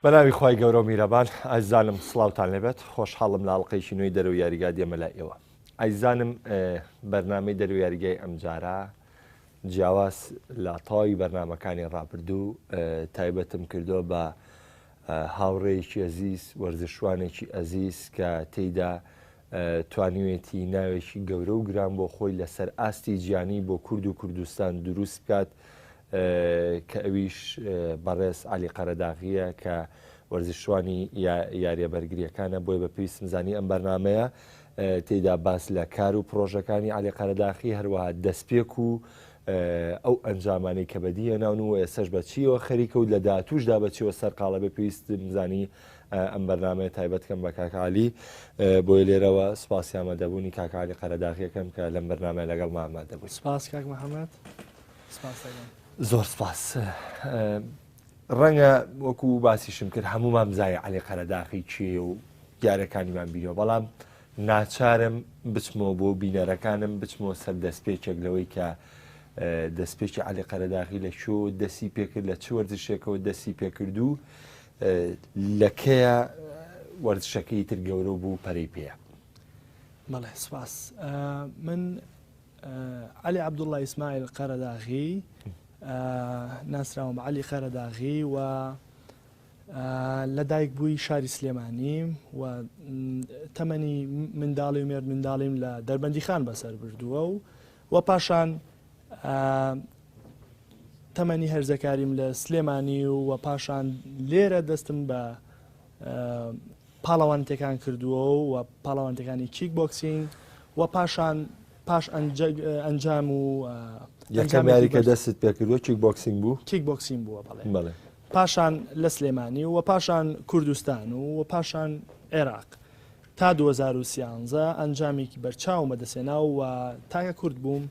بە ناوی خی گەورە و میرەبان ئازانم سلااوان لێبێت خۆشحاڵم لە ئەڵلقەیشی نوێی دەرو یاریگا دێمە لای ئێوە ئایزانم بەرنمەی دەرو یاریگای ئەمجارە جیاواز لە تەواوی بەرنمەکانی ڕابردوو تایبەتم کردووە بە هاوڕێیەکی ئەزیز، وەرزشوانێکی ئەزیز کە تێیدا توانیوێتی ناوێکی گەورە و گران بۆ خۆی لەسەر ئاستی جیهانی بۆ کورد و کوردستان دروست بکات کە ئەویش بەڕێز عەلی قەرەداغییە کە وەرزشوانی یاریە بەرگریەکانە بۆیە بە پێویستم زانی ئەم بەرنمەیە تێدا باس لە کار و پرۆژەکانی علی قەرەداخی هەروەها دەستپێک و ئەو ئەنجامانەی کە بەدی هێناون و ئێسەش بە چیەوە خەریکە و لە داهاتووشدا بە چیەوە سەرقاڵە بێ پێویستم زانی ئەم بەرنمەیە تایبەتکەم بە کاکعالی بۆی لێرەوە سپاسی ئامادەبوونی کاکعالی قەرەداغیەکەم کە لەم بەرنمە لەگەڵ مامادەبوو سپاس کاک محەممەد زۆر سپاس ڕەنگە وەکو باسیشم کرد هەمومان بزای علی قەرەداخی کێیە و دیارەکانیمان بینەوە بەڵام ناچارم بچمەوە بۆ بینەرەکانم بچمەوە سەر دەستپێکێک لەوەی کە دەستپێکی علی قەرەداخی لە شۆ دەسی پێکرد لە چ وەرزشێکەوە دەسی پێکرد و لەکەیە وەرزشەکەی تر گەورە بوو پەرەی پێە بەڵێ سپاس من عەلی عەبدوڵا ئیسماعیل قەرەداغی، ناسراوم بە عەلی قەرەداغی و لەدایکبووی شاری سلێمانیم و تەمەنی منداڵی و مێردمنداڵیم لە دەربەندیخان بەسەر بردووە و و پاشان تەمەنی هەرزەکاریم لە سلێمانی و و پاشان لێرە دەستم بە پاڵەوانتێکان کردووە و پاڵەوانتەکانی کیک بۆکسینگ و پاشان پاش ئەنجام و یەکەمیاری کە دەستت پێکردوە کیک بۆکسینگ بوو کیک بۆکسین بووە بەڵێ پاشان لە سلێمانی و پاشان کوردستان و و پاشان عێراق تا 2013 ئەنجامێکی بەرچاو مەدەسێنا و تاکە کورد بووم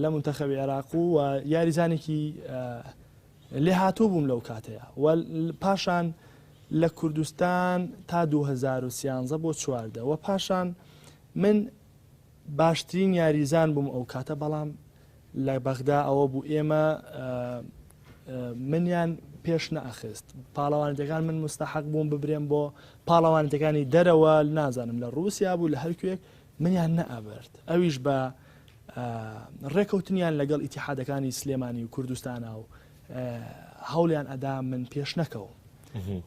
لە منتەخەوی عێراق و یاریزانێکی لێهاتوو بووم لەو کاتەیا و پاشان لە کوردستان تا دوو هەزار و سیانزە بۆ چواردە وە پاشان من باشترین یاریزان بووم ئەو کاتە بەڵام لە بەغدا ئەوە بوو ئێمە منیان پێش نەخست پاڵەوانەتەکان من مستحق بووم ببرێن بۆ پاڵەوانەتەکانی دەرەوە نازانم لە ڕوسیا بوو لە هەرکوێک منیان نەئەبرد ئەویش بە ڕێکەوتنیان لەگەڵ ئیتیحادەکانی سلێمانی و کوردستانە و هەوڵیان ئەدا من پێش نەکەوم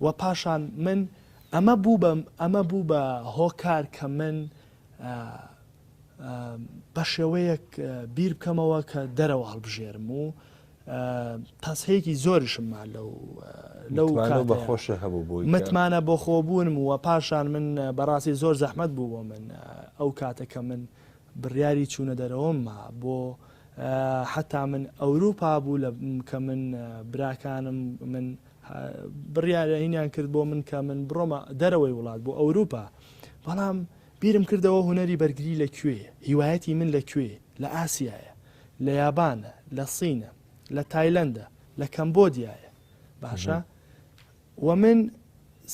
و پاشان من ئەمە بوو بەم ئەمە بوو بە هۆکار کە من بە شێوەیەک بیر بکەمەوە کە دەرەوە هەڵبژێرم و تاسەیەکی زۆرشم ما لەو لەو بەخۆشە هەبوو بووی متمانە بۆ خۆبوونم وە پاشان من بەڕاستی زۆر زەحمت بوو بۆ من ئەو کاتەکە من بڕیاری چوونە دەرەوەم ما بۆ حتا من ئەوروپا بوو لە کە من براکانم من بڕیارەینیان کرد بۆ من کە من بڕۆمە دەرەوەی وڵات بۆ ئەوروپا بەڵام بیرم کردەوە هوەری بەرگری لە کوێ هیوایەتی من لە کوێ لە ئاسیایە، لە یابانە، لە سینە، لە تایلەندە، لە کەمبۆدیایە باشە وە من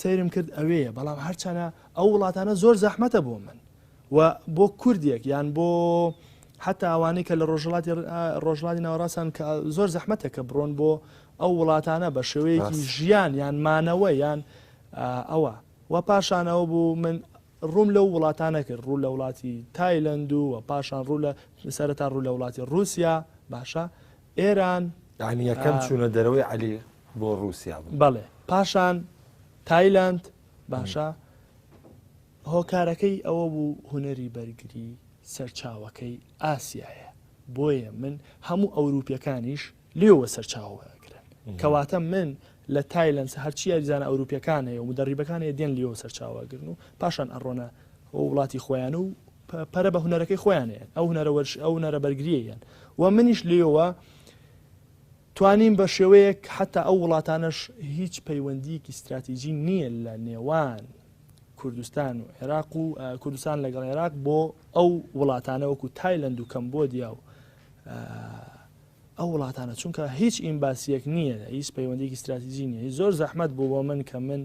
سەیرم کرد ئەوێیە بەڵام هەرچەنە ئەو وڵاتانە زۆر زەحمەتە بۆ من و بۆ کوردێک یان بۆ حتا ئەوانەی کە لە ڕۆژڵاتی ڕۆژڵاتی ناوەڕاستان کە زۆر زەحمەتە کە بڕۆن بۆ ئەو وڵاتانە بە شێوەیەکی ژیان یان مانەوە یان ئەوە و پاشان ئەوە بوو من ڕووم لەو وڵاتانە کرد ڕوو لە وڵاتی تایلەند و و پاشان ڕوو لە سەرەتا ڕوو لە وڵاتی ڕووسیا باشە ئێران یانی یەکەم چوونە دەرەوەی عەلی بۆ ڕووسیا بوو بەڵێ پاشان تایلەند باشە هۆکارەکەی ئەوە بوو هونەری بەرگری سەرچاوەکەی ئاسیایە بۆیە من هەموو ئەوروپیەکانیش لێوە سەرچاوە وەرئەگرن کەواتە من لە تایلەنس هەرچی یاریزانە ئەوروپیەکان هەیە و مدەڕیبەکان هەیە دێن لێوە سەرچاوەگرن و پاشان ئەڕۆنە وڵاتی خۆیان و پەرە بە هوەرەکەی خۆیانەیەن ئەو هوەرە وەرش ئەو نەرە بەرگریەن و منیش لێوە توانیم بە شێوەیەک حتا ئەو وڵاتانش هیچ پەیوەندیەکی استراتیژی نییە لە نێوان کوردستان و عێراق و کوردستان لەگەڵ عێراق بۆ ئەو وڵاتانە وەکو تایلند و کەمبۆدیا و ئەو وڵاتانە چونکە هیچ ئیمباسیەک نیە هیچ پەیوەندیەکی ستراتیجی نیە هیچ زۆر زەحمەت بوو بۆ من کە من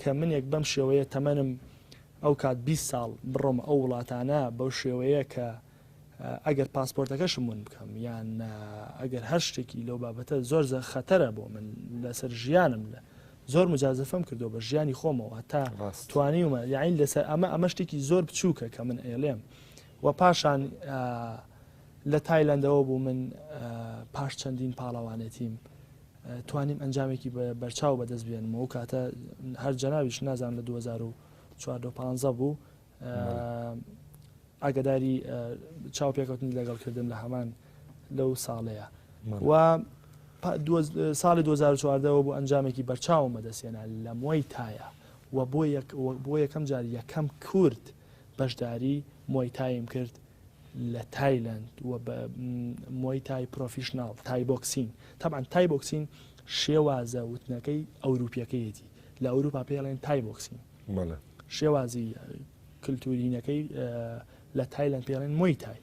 کە منێک بەم شێوەیە تەمەنم ئەو کات بیست ساڵ بڕۆم ئەو وڵاتانە بەو شێوەیە کە ئەگەر پاسپۆرتەکەشم ون بکەم یان ئەگەر هەر شتێکی لەو بابەتە زۆر زە خەتەرە بۆ من لەسەر ژیانم لە زۆر مجازفم کردو بە ژیانی خۆمەوە تا توانیومە یاین لەسەر ئەمە ئەمە شتێکی زۆر بچووکە کە من ئێلێم و پاشان لە تایلەندەوە بوو من پاش چەندین پاڵەوانێتیم توانیم ئەنجامێکی بەرچاو بەدەست بێنمەوە و کاتە هەر جەناویش نازان لە 2015 بوو ئاگداری چاو پێکەوتنی لەگەڵ کردم لە هەمان لەو ساڵەیە و ساڵی 2014ەوە بۆ ئەنجامێکی بەرچاوم بەدەستێنا لە مۆی تایە و بۆ بۆ یەکەم جار یەکەم کورد بەشداری مۆی تایم کرد لە تایلەند و بە مۆی تای پرۆفیشنناڵ تای بۆکسین تاان تای بۆکسین شێوازە وتنەکەی ئەوروپیەکەیەتی لە ئەوروپا پێڵێن تای بۆکسین شێوازی کللتورینەکەی لە تایلند پێڵێن مۆی تای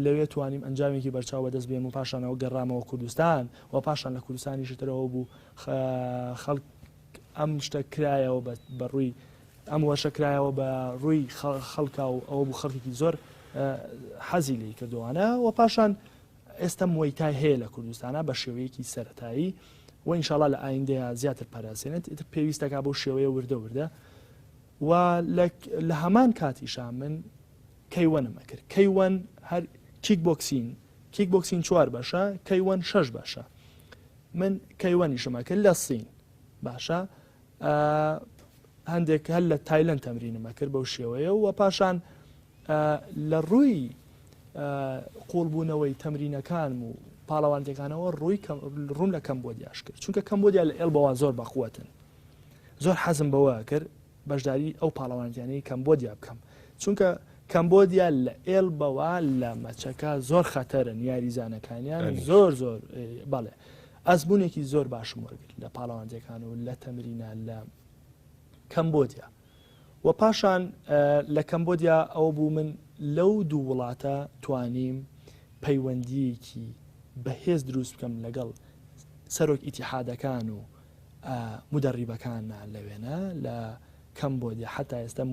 لەوێ توانیم ئەنجامێکی بەرچاو بەدەست بێن و پاشانەوە گەڕامەوە کوردستان و پاشان لە کوردستانیشترەوە بوو خەڵک ئەم شتە کرایەوە بە بە ڕووی ئەم وەشە کرایەوە بە ڕووی خەڵکا و ئەوە بوو خەڵکێکی زۆر حەزی لی کردوانە و پاشان ئێستا مویتای هەیە لە کوردستانە بە شێوەیەکی سەتایی و ئینشاالله لە ئایندەیە زیاتر پاراسێنێت ئیتر پێویستەکە بۆ شێوەیە وردە وردە و لە هەمان کاتیشا من کەیوەنم ئەکرد کەیوەن هەر کیک بۆکسین کیک بۆکسین چوار باشە کەیوەن شش باشە من کەیوەنیشم ئەکرد لە سین باشە هەندێک هەر لە تایلند تەمرینم ئەکرد بەو شێوەیە و پاشان لە ڕووی قوڵبوونەوەی تەمرینەکانم و پاڵەوانتەکانەوە ڕووی ڕووم لە کەمبۆدیاش کرد چونکە کەمبۆدیا لە ئێڵ بەوە زۆر بەقوتن زۆر حەزم بەوە کرد بەشداری ئەو پاڵەوانتیانەی کەمبۆدیا بکەم چونکە کەمبۆدیا لە ئێلبەوە لە مەچەکە زۆر خەتەرن یاریزانەکانیان زۆر زۆر بەڵێ ئەزمونێکی زۆر باشم وەرگرت لە پاڵەوانجەکان و لە تەمرینە لە کەمبۆدیا و پاشان لە کەمبۆدیا ئەو بوو من لەو دوو وڵاتە توانیم پەیوەندیەکی بەهێز دروست بکەم لەگەڵ سەرۆک ئیتیحادەکان و مودەڕیبەکانە لە وێنە لە کەمبۆدیا حەتا ئێستا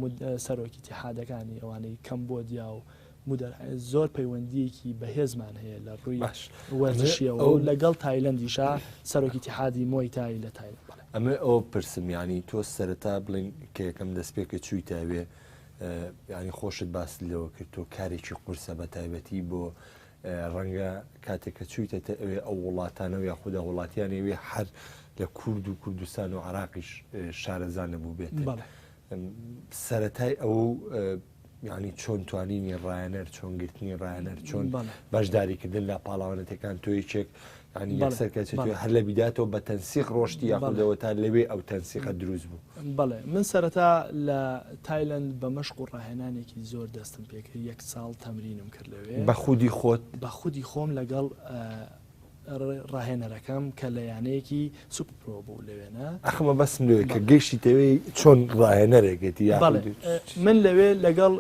سەرۆکی تیحادەکانی ئەوانەی کەمبۆدیا و مودەر زۆر پەیوەندیەکی بەهێزمان هەیە لە ڕووی باش وەرزشیەوە و لەگەڵ تایلندیشا سەرۆکی تیحادی مۆی تای لە تای ئەمە ئەو پرسمیانی تۆ سەرەتا بڵین کە یەکەم دەست پێ کە چووی تاوێ ینی خۆشت باس لەوە کرد تۆ کارێکی قورسە بە تایبەتی بۆ ڕەنگە کاتێک کە چوویتەتە ئەوێ ئەو وڵاتانە و یاخودا وڵاتیانی ئەوێ هەر لە کورد و کوردستان و عراقیش شارەزا نەبوو بێت بەڵێ سەتای ئەو یعنی چۆن توانینی ڕایەنەر چۆن گرتنی ڕایەنەر چۆن بەشداریکردن لە پاڵاوانەتەکان تۆ یەکێک سەرکەچێت هەر لە بیداتەوە بە تەنسیق ڕۆشتی یاخودەوە تا لەوێ ئەو تەنسیقە دروست بوو بڵێ من سەرەتا لە تایلند بە مەشق و ڕاهێنانێکی زۆر دەستم پێکرد یەک ساڵ تەمرینم کرد لەوێ بە خودی خۆت بە خودی خۆم لەگەڵ ڕاهێنەرەکەم کە لە یانەیەکی سوپرۆ بوو لەوێنە ئەخمە بەسم لێ کە گەشتی تەوێ چۆن ڕاهێنەرێکێتی یا من لەوێ لەگەڵ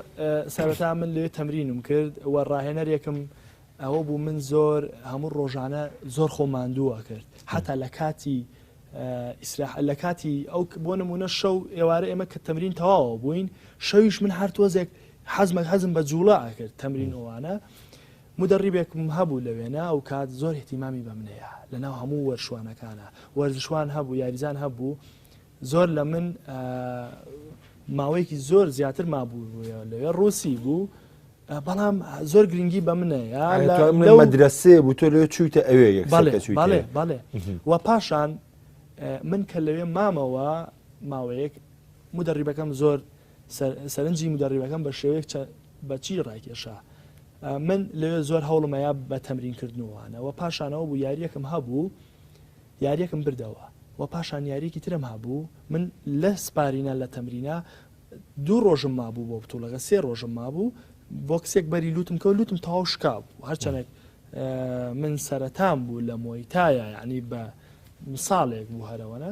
سەرەتا من لێ تەمرینم کرد و ڕاهێنەرێکم ئەوە بوو من زۆر هەموو ڕۆژانە زۆر خۆ ماندوو ئەکرد حتا لە کاتی ئیسراح لە کاتی ئەو بۆ نمونە شەو ئێوارە ئێمە کە تەمرین تەواوە بووین شەویش من هەر تۆزێک حەزمە حەزم بە جوڵە ئەکرد تەمرین ئەوانە مدەڕیبێکم هەبوو لە وێنە ئەو کات زۆر احتیمامی بە منەیە لەناو هەموو وەرشوانەکانە وەرزشوان هەبوو یاریزان هەبوو زۆر لە من ماوەیەکی زۆر زیاتر مابوو لەوێ ڕوسی بوو بەڵام زۆر گرنگی بە منەیە مەدرسێ بوو تۆ لێ چوویتە ئەوێ بەڵێ بەڵێ و پاشان من کە لەوێ مامەوە ماوەیەک مدەڕیبەکەم زۆر سەرنجی مدەڕیبەکەم بە شێوەیەک بەچی ڕاکێشا من لەوێ زۆر هەوڵمەیە بە تەمرین کردنوانەوە پاشانەوە بوو یاریەکەم هەبوو یاریەکم بردەوە و پاشان یاریەکی ترم هەبوو من لە سپارینە لە تەمرینە دوو ڕۆژم مابوو بۆ بتوڵەکە سێ ڕۆژم مابوو بۆکسێک بەری لوتم کەەوە لوتم تەواو شکابوو هەرچەنێک من سەرەتان بوو لە مۆیتایە یعنی بە ساڵێک بوو هەرەوەە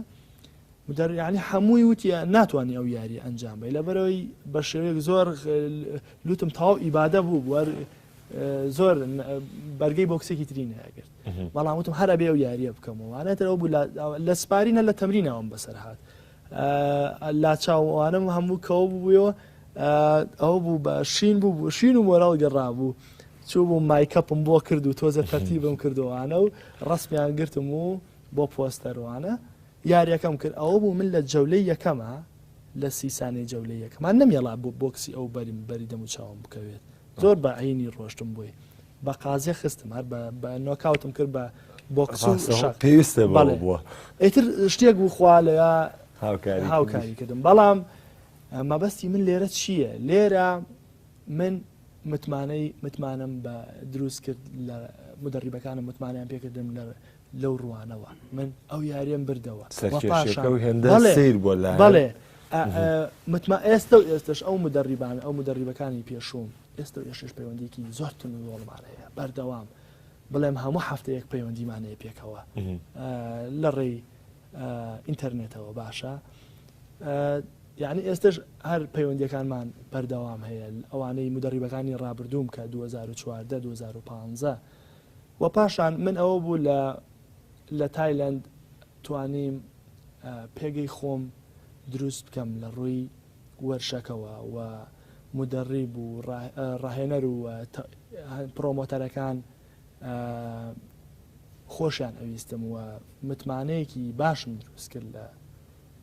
مدەریانی هەمووی وتە ناتوانانی ئەو یاری ئەنجام بی لەبەرەوەی بە شێوەیەک زۆر لوتم تاو ئیبادە بوو بوار زۆر بەرگەی بۆکسێکی تری ناگرت بەڵام وتم هەر ئەبێ ئەو یارییە بکەمەوە وانەتر ئەو لە سپارینە لە تەمرینەوەم بەسەر هاات لاچاوانم هەموو کەەوە بووەوە ئەو بوو بە شین بوو بوو شین و مۆراڵ گەڕابوو چوو بوو مایکەپم بۆ کرد و تۆزە تەرتی بم کردوانە و ڕستمیان گرتم و بۆ پۆستەروانە یاریەکەم کرد ئەوە بوو من لە جەولەی یەکەمە لە سیسانەی جەولەی یەکەمان نەمێڵا بۆ بۆکسی ئەو بەریم بەری دەم و چاوم بکەوێت زۆر بە عینی ڕۆشتم بۆی بە قازێ خستم هەر بە نۆکاوتم کرد بە بۆکسشە پێویستە بەڵێ بووە ئیتر شتێک بوو خوا لە هاوکاری کردم بەڵام مەبەستی من لێرە چییە لێرە من متمانەی متمانم بە دروست کرد لە مدەڕیبەکانم متمانیان پێکردم لە لەو ڕوانەوە من ئەو یاریم بردەوە سیر بۆ بەڵێ متما ئێستا و ئێستش ئەو مدەڕیبان ئەو مدەڕیبەکانی پێشوم ئێستا ئێشش پەیوەندیکی زۆر تون و زۆرمان هەیە بەردەوام بڵێم هەموو هەفتەیەک پەیوەندیمانەیە پێکەوە لە ڕێی ئینتەرنێتەوە باشە یعنی ئێستش هەر پەیوەندیەکانمان بەردەوام هەیە ئەوانەی مدەڕیبەکانی ڕابردووم کە 2014 2015 و پاشان من ئەوە بوو لە لە تایلند توانیم پێگەی خۆم دروست بکەم لە ڕووی وەرشەکەوە و مودەڕیب و ڕاهێنەر و پڕۆمۆتەرەکان خۆشیان ئەویستم و متمانەیەکی باشم دروست کرد لە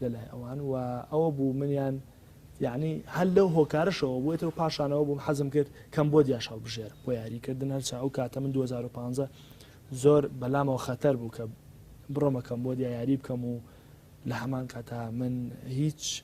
لەلای ئەوان و ئەوە بوو منیان یعنی هەر لەو هۆکارشەوە بووێتەوە پاشانەوە بووم حەزم کرد کەم بۆ دیاش هەڵبژێر بۆ یاریکردن هەرچە ئەو کاتە من 2015 زۆر بەلامەوە خەتەر بوو کە بڕۆمەکەم بۆ دیایاری بکەم و لە هەمان کاتا من هیچ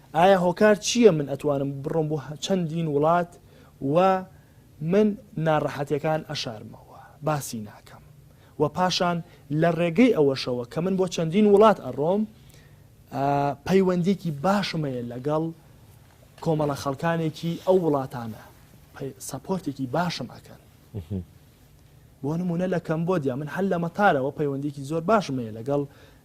ئایا هۆکار چیە من ئەتوانم بڕۆم بۆ چەندین وڵات و من ناڕەحەتیەکان ئەشارمەوە باسی ناکەم و پاشان لە ڕێگەی ئەوەشەوە کە من بۆ چەندین وڵات ئەڕۆم پەیوەندیکی باشم هەیە لەگەڵ کۆمەڵە خەڵکانێکی ئەو وڵاتانە سەپۆرتێکی باشم ئەکەن بۆ نمونە لە کەمبۆدیا من هەل لە مەتارەوە پەیوەندیکی زۆر باشم هەیە لەگەڵ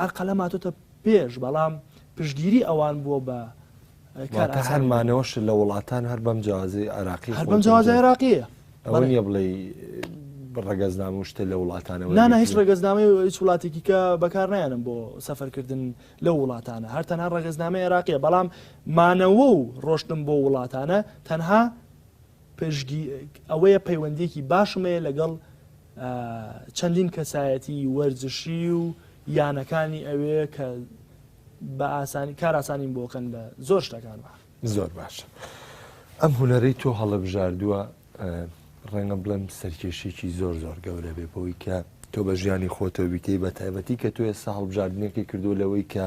عەرقەلە ماتۆتە پێش بەڵام پشگیری ئەوان بووە بە هەرمانەوەش لە وڵاتان هەر بەم جیازی عراقی هەر بەم جیاز عراقیە ئەوەیە بڵێ ڕگەزنامە و شتە لە وڵاتانەوە نانە هیچ ڕگەزنامەی هیچ وڵاتێکی کە بەکار نایەنم بۆ سەفەرکردن لە وڵاتانە هەر تەنها ڕگەزنامە عێراقیە بەڵام مانەوە و ڕۆشتم بۆ وڵاتانە تەنها پشتگی ئەوەیە پەیوەندیەکی باشم هەیە لەگەڵ چەندین کەسایەتی وەرزشی و یانەکانی ئەوێ کە بە ئاسانی کاراسانیم بۆکەن لە زۆر شتەکان زۆر باشە ئەم هوەرەی تۆ هەڵبژاردووە ڕێنە بڵێم سەرکێشێکی زۆر زۆر گەورە بێ بۆی کە تۆ بە ژیانی خۆتەویتەی بە تایبەتی کە تۆ ئێستا هەڵبژاردنەکەی کردو لەوەی کە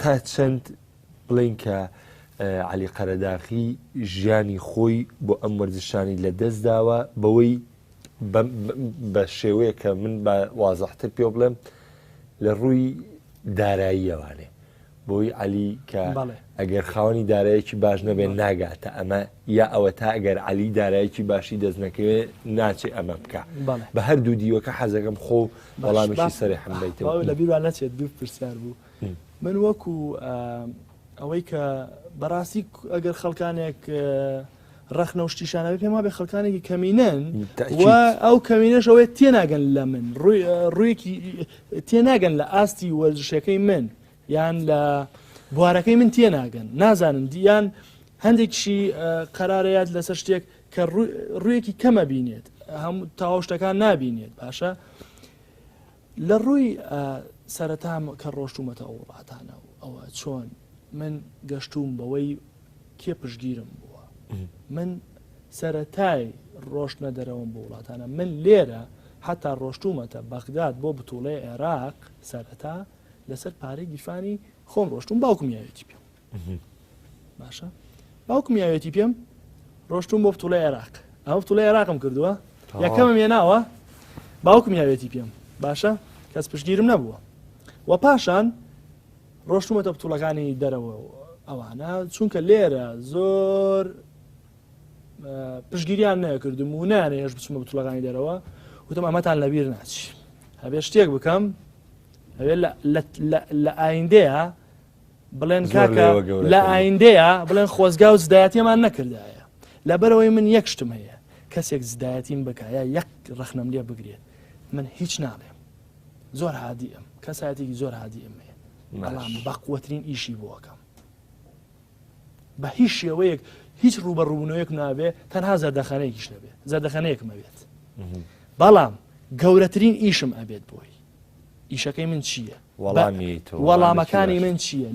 تا چەند بڵێین کە عەلی قەرەداخی ژیانی خۆی بۆ ئەم وەرزشانی لە دەست داوە بەوەی بە شێوەیە کە من بە وازەحتر پێ بڵێم لە ڕووی داراییەوانێ بۆی عەلی کە ئەگەر خاوەنی دارایەکی باش نەبێت ناگاتە ئەمە یا ئەوە تا ئەگەر عەلی دارایەکی باشی دەست نەکەوێت ناچێت ئەمە بکە بە هەردوو دیوەکە حەزەکەم خۆ بەڵامی سەری حمبیتەوە لە بیران نەچێت دوو پرسیار بوو. من وەکو ئەوەی کە بەڕاستی ئەگەر خەڵکانێک ڕخنە و شتیشانەوە پێم وابێ خەڵکانێکی کەمینەن ئەو کەمینەشەوەی تێناگەن لە من ڕوویەکی تێناگەن لە ئاستی وەرزشەکەی من یان لە بوارەکەی من تێناگەن نازانن دییان هەندێکشی قەرارەیات لەسەر شتێک کە ڕوویەکی کەمە بینێت هەموو تاوەشتەکان نابینێت باشە لە ڕووی سەرەتام کە ڕۆشتوومەتە ئەو وڵاتانە و ئەوە چۆن من گەشتووم بەوەی کێ پشگیرم بووە من سەرەتای ڕۆشتنە دەرەوەم بۆ وڵاتانە من لێرە حتا ڕۆشتومەتە بەغداد بۆ بتوڵێ عێراق سەرەتا لەسەر پارەی گیرفانی خۆم ڕۆشتوم باوکم یاوێتی پێ بوو باشە باوکم یاوێتی پێم ڕۆشتون بۆ پتوڵی عێراق ئەو پتوڵی عێراقم کردووە یەکەمم هێناوە باوکم یاوێتی پێم باشە کەس پشگیرم نەبووە و پاشان ڕۆشتومەتە پتوڵەکانی دەرەوە ئەوانە چونکە لێرە زۆر پشگیریان نەکردم و نانێ هێش بچمە بتوڵەکانی دەرەوە وتم ئەمەتان لەبیر ناچی هەبێ شتێک بکەم هەوێ لە ئایندەیە بڵێن کاکە لە ئایندەیە بڵێن خۆزگا و زدایەتێمان نەکردایە لەبەرەوەی من یەک شتم هەیە کەسێک زدایەتیم بکایە یەک ڕخنم لێ بگرێت من هیچ ناڵێم زۆر هادی ئەم کەساتێکی زۆر هادی ئەمێ بەڵام بەقوترین ئیشی بۆکەم بە هیچ شێوەیەک هیچ ڕوبە ڕوونەوەیەک نابێ تەنها زەردەخانەیەکیش نەبێت زەردەخانەیەکمە بێت بەڵام گەورەترین ئیشم ئەبێت بۆی ئیشەکەی من چییە؟ وەڵامی تۆ وەڵامەکانی من چییە؟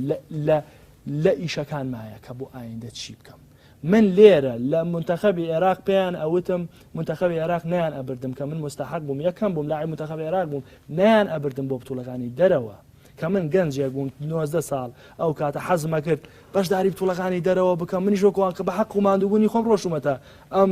لە ئیشەکان مایە کە بۆ ئایندە چی بکەم؟ من لێرە لە منتەخەبی عێراق پێیان ئەوتم منتەخەبی عێراق نیان ئەبردم کە من مستحق بووم یەکەم بووم لای منتەخەبی عێراق بووم نیان ئەبردم بۆ بتوڵەکانی دەرەوە کە من گەنجێک بووم 90 ساڵ ئەو کاتە حەزمە کرد بەشداری بتوڵەکانی دەرەوە بکەم منیش وەکوان کە بە حەق و مادووبوونی خۆم ڕۆشتومەتە ئەم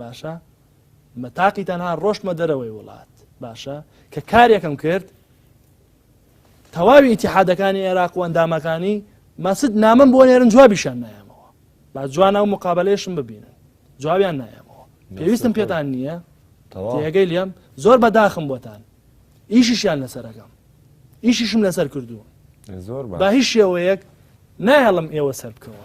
باشە مە تاقی تەنها ڕۆشتمە دەرەوەی وڵات باشە کە کارێکم کرد تەواوی ئتیحادەکانی عێراق و ئەندامەکانی مەسد نامم بۆ نێرن جوابیشان نایەمەوە با جوانە و مقابلەیشم ببینن جوابیان نایەمەوە پێویستم پێتان نییە تێگەی لێم زۆر بەداخم بۆتان ئیشیشیان لەسەرەکەم ئیشیشم لەسەر کردووە زۆر بە هیچ شێوەیەک نایڵم ئێوە سەر بکەوە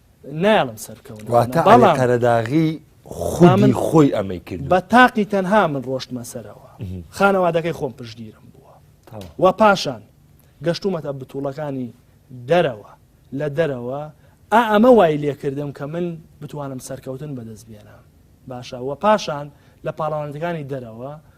نایڵم سەرکەون واتە بەڵام قەرەداغی خوا من خۆی ئەمەی کرد بە تاقی تەنها من ڕۆشتمە سەرەوە خانەوادەکەی خۆم پشگیرم بووە و پاشان گەشتومەتە بتوڵەکانی دەرەوە لە دەرەوە ئا ئەمە وای لێکردم کە من بتوانم سەرکەوتن بەدەست بێنم باشە وە پاشان لە پاڵەوانەکانی دەرەوە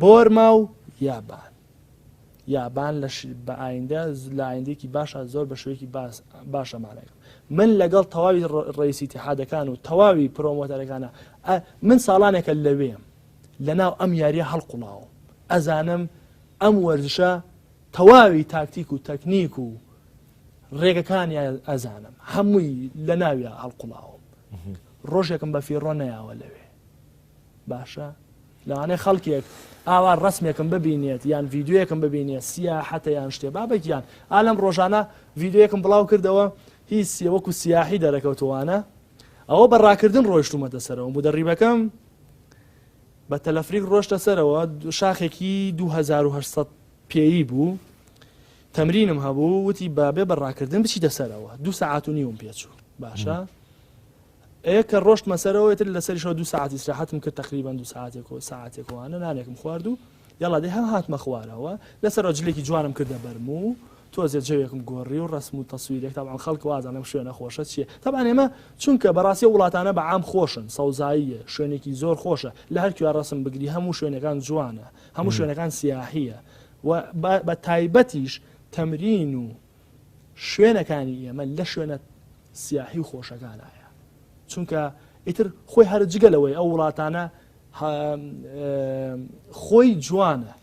بۆرما و یابان یابان لە بە ئایندە لە ئایندێکی باشە زۆر بە شوێکی باشە مانەکە من لەگەڵ تەواوی ڕێسی تحادەکان و تەواوی پرۆمۆتەرەکانە من ساڵانێکە لەوێم لە ناو ئەم یاریە هەڵقڵاوم ئەزانم ئەم وەرزشە تەواوی تاکتیک و تەکنیک و ڕێگەکانی ئەزانم هەمووی لە ناویە هەڵقڵاوم ڕۆژێکم بە فیڕۆ نەیاوە لەوێ باشە لەوانەیە خەڵکێک ئاوا ڕسمێکم ببینێت یان ڤیددیوەکم ببینێت سیا حتە یان شتێ بابەکیان ئالم ڕۆژانە ڤیددیوەکم بڵاو کردەوە هی سیە وەکو سیاحی دەرەکەوتوانە ئەوە بە ڕاکردن ڕۆیشتومەتە سەرەوە بوو دەڕیبەکەم بە تەلەفریک ڕۆشتە سەرەوە شاخێکی 1970 پێی بوو تەمرینم هەبوو وتی بابێ بە ڕاکردن بچیتە سەرەوە دو سەعات و نیوم پێچوو باشە ئەیە کە ڕۆشتمە سەرەوە ئیتر لەسەریشەوە دوو ساعت ئیسراحەتم کرد تقریبا دوو ساعتێک و ساعتێک وانە نانێکم خوارد و یاڵا دێ هەم هاتمە خوارەوە لەسەر جلێکی جوانم کردە بەرم و تۆزێ جەوێکم گۆڕی و ڕسم و تەسویرێک تاوان خەڵک وازان لەم شوێنە خۆشە چییە تاوان ئێمە چونکە بەڕاستی وڵاتانە بە عام خۆشن سەوزاییە شوێنێکی زۆر خۆشە لە هەر کوێ ڕسم بگری هەموو شوێنەکان جوانە هەموو شوێنەکان سیاحیە و بە تایبەتیش تەمرین و شوێنەکانی ئێمە لە شوێنە سیاحی و خۆشەکانایە چونکە ئیتر خۆی هەر جگە لەوەی ئەو وڵاتانە خۆی جوانە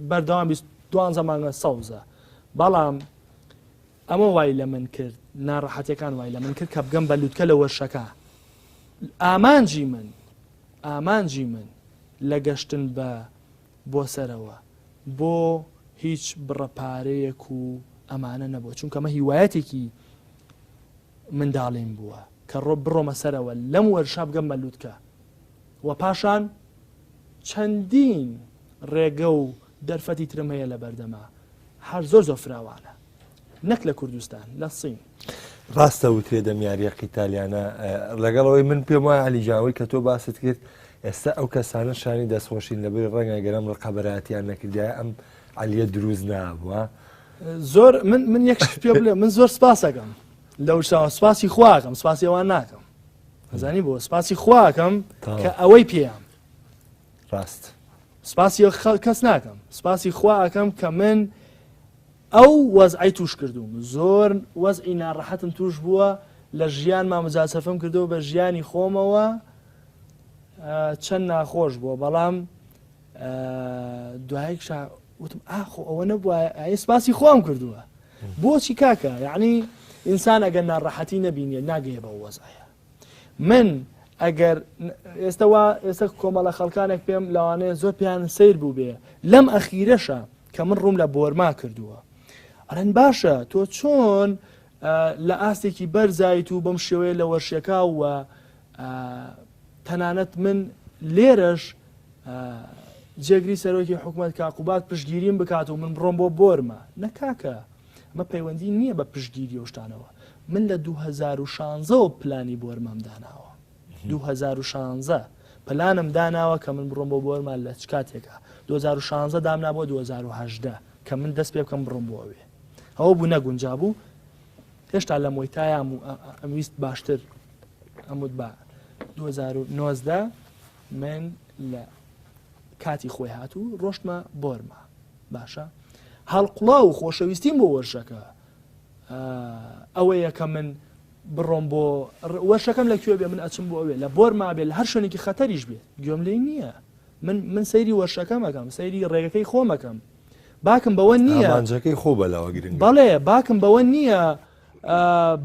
بەردەوام دوانزە مانگە سەوزە بەڵام ئەمە وای لە من کرد ناڕەحەتەکان وای لە من کرد کە بگەم بە لوتکە لە وەرشەکە ئامانجی من ئامانجی من لە گەشتن بە بۆ سەرەوە بۆ هیچ بڕە پارەیەک و ئەمانە نەبووە چونکە مە هیوایەتێکی منداڵیم بووە کە ڕۆ بڕۆمە سەرەوە لەم وەرشاب گەم مەلووتکە و پاشان چەندین ڕێگە و دەرفەتی ترم هەیە لە بەردەما هەر زۆر زۆر فراوانە نەک لە کوردستان لە سین. ڕاستە وترێ دەم یاریە قیتالیانە لەگەڵەوەی من پێم وایە علیجاوی کە تۆ باست کرد ئێستا ئەو کەسانە شانی دەستخۆشین لەبری ڕەنگە گەرم ڕقەبەراتیان نەکردای ئەم علیە دروست نابووە زۆر من من یەک پێ بڵێ من زۆر سپاسەکەم لەو شاوە سپاسی خواکەم سپاسی ئەوان ناکەم ئەزانی بۆ سپاسی خواکەم کە ئەوەی پێیان ڕاست سپاسی کەس ناکەم سپاسی خواکەم کە من ئەو وەزعەی توش کردووم زۆر وەزعی ناڕەحەتم توش بووە لە ژیانما مجاسەفەم کردەوە بە ژیانی خۆمەوە چەند ناخۆش بووە بەڵام دوایک وتم ئاخۆ ئەوە نەبووە ئەی سپاسی خۆم کردووە بۆچی کاکە یعنی ئینسان ئەگەر ناڕەحەتی نەبینێ ناگەیە بە وەزایە من ئەگەر ئێستا وا ئێستا کۆمەڵە خەڵکانێک پێم لەوانەیە زۆر پێیان سیر بوو بێ لەم ئەخیرەشە کە من ڕووم لە بۆرما کردووە ئەرەن باشە تۆ چۆن لە ئاستێکی بەرزایت و بەم شێوەیە لە وەرشەکە و تەنانەت من لێرەش جێگری سەرۆکی حکوومەت کاقوبات پشگیریم بکات و من بڕۆم بۆ بۆرمە نەکاکە ئەمە پەیوەندی نییە بە پشتگیری و شتانەوە من لە دوو هەزار و شانزە وە پلانی بۆرمام داناوە دوو هەزار و شانزە پلانم داناوە کە من بڕۆم بۆ بۆرمان لە چ کاتێکا دوو هەزار و شانزە دامنا بۆ دوو هەزار و هەژدە کە من دەست پێ بکەم بڕۆم بۆ ئەوێ ئەوە بوو نەگونجا بوو هێشتا لە مۆیتایام و ئەم ویست باشتر ئەموت بە دوو هەزار و نۆزدە من لە کاتی خۆی هات و ڕۆشتمە بۆرما باشە هەڵقڵاو و خۆشەویستیم بۆ وەرشەکە ئەوەیە کە من بڕۆم بۆ وەرشەکەم لە کوێ بێ من ئەچم بۆ ئەوێ لە بۆر مابێ لە هەر شوێنێکی خەتەریش بێ گوێم لێ نییە من من سەیری وەرشەکەمەکەم سەیری ڕێگەکەی خۆمەکەم باکم بەوە نییەجەکەی خۆ بەلاوە گرنگ بەڵێ باکم بەوە نییە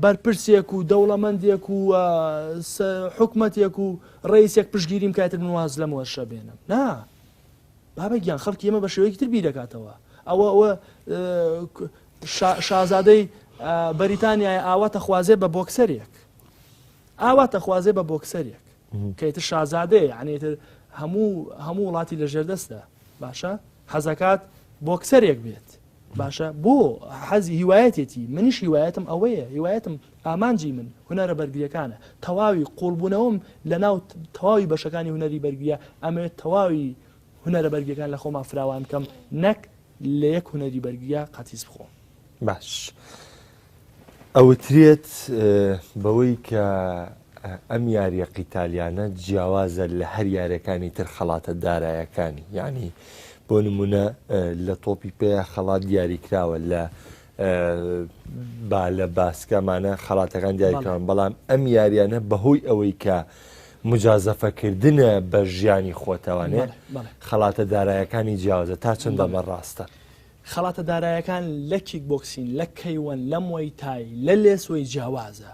بەرپرسێک و دەوڵەمەندێک و حکومەتێک و ڕئیسێک پشگیریم کاتر من واز لەم وەرشە بێنم نا بابە گیان خەڵکی ئێمە بە شێوەیەکی تر بیرەکاتەوە ئەوە ئەوە شازادەی بەریتانیای ئاواتە خوازێ بە بۆکسەرێک ئاواتە خوازێ بە بۆکسەرێک کەیتر شازادەیە یعنیتر هەموو هەموو وڵاتی لە ژێردەستە باشە حەزەکات بۆکسەرێک بێت باشە بۆ حەزی هیوایەتێتی منیش هیوایەتم ئەوەیە هیوایەتم ئامانجی من هونەرە بەرگریەکانە تەواوی قوڵبوونەوەم لە ناو تەواوی بەشەکانی هونەری بەرگریە ئەمەوێت تەواوی هونەرە بەرگەکان لە خۆما فراوان کەم نەک لە یەک هونەری بەرگیا قەتیس بخۆم باش. ئەوترێت بەوەی کە ئەم یاریە قیتالیانە جیاوازە لە هەر یاریەکانی تر خەڵاتە دارایەکانی یعنی بۆ نمونە لە تۆپی پێ خەڵات دیاریکراوە لە با لە باسکەمانە خەڵاتەکان دیاریکراون بەڵام ئەم یاریانە بەهۆی ئەوەی کە مجازەفەکردە بە ژیانی خۆتەوانێت خەڵاتە دارایەکانی جیاوازە تا چەندە بە ڕاستە. خەڵاتە دارایەکان لە کیک بۆکسین، لە کەیوەن، لە موەی تای، لە لێسوەی جیاوازە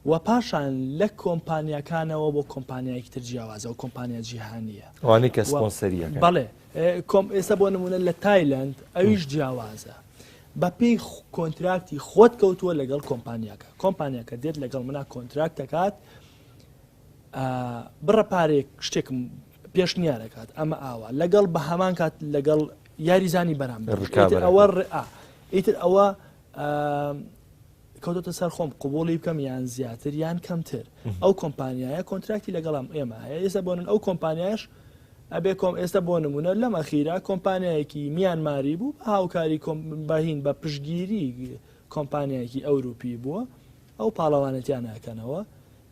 و پاشان لە کۆمپانیاکانەوە بۆ کۆمپانیایەکی تر جیاوازە و کۆمپانیا جیهانییە. ئەوانەی کە سپۆنسەرییەکەن. بەڵێ. کۆم ئێستا بۆ نموونە لە تایلەند ئەویش جیاوازە. بەپێی کۆنتراکتی خۆت کەوتووە لەگەڵ کۆمپانیاکە. کۆمپانیاکە دێت لەگەڵ منا کۆنتراکت دەکات بڕە پارەیەک شتێکم پێشنیارەکات ئەمە ئاوا لەگەڵ بە هەمان کات لەگەڵ یاریزانی بەرامبەر ئیتر ئەوە ڕئا ئیتر ئەوە کەوتەتە سەر خۆم قوبولی بکەم یان زیاتر یان کەمتر ئەو کۆمپانیایە کۆنتراکتی لەگەڵام ئێمە هەیە ئێستا بۆن ئەو کۆمپانیاش ئەبێ کۆم ئێستا بۆ نمونە لەم ئەخیرا کۆمپانیایەکی میانماری بوو بە هاوکاری بەهین بە پشگیری کۆمپانیایەکی ئەوروپی بووە ئەو پاڵەوانەتیان ناکەنەوە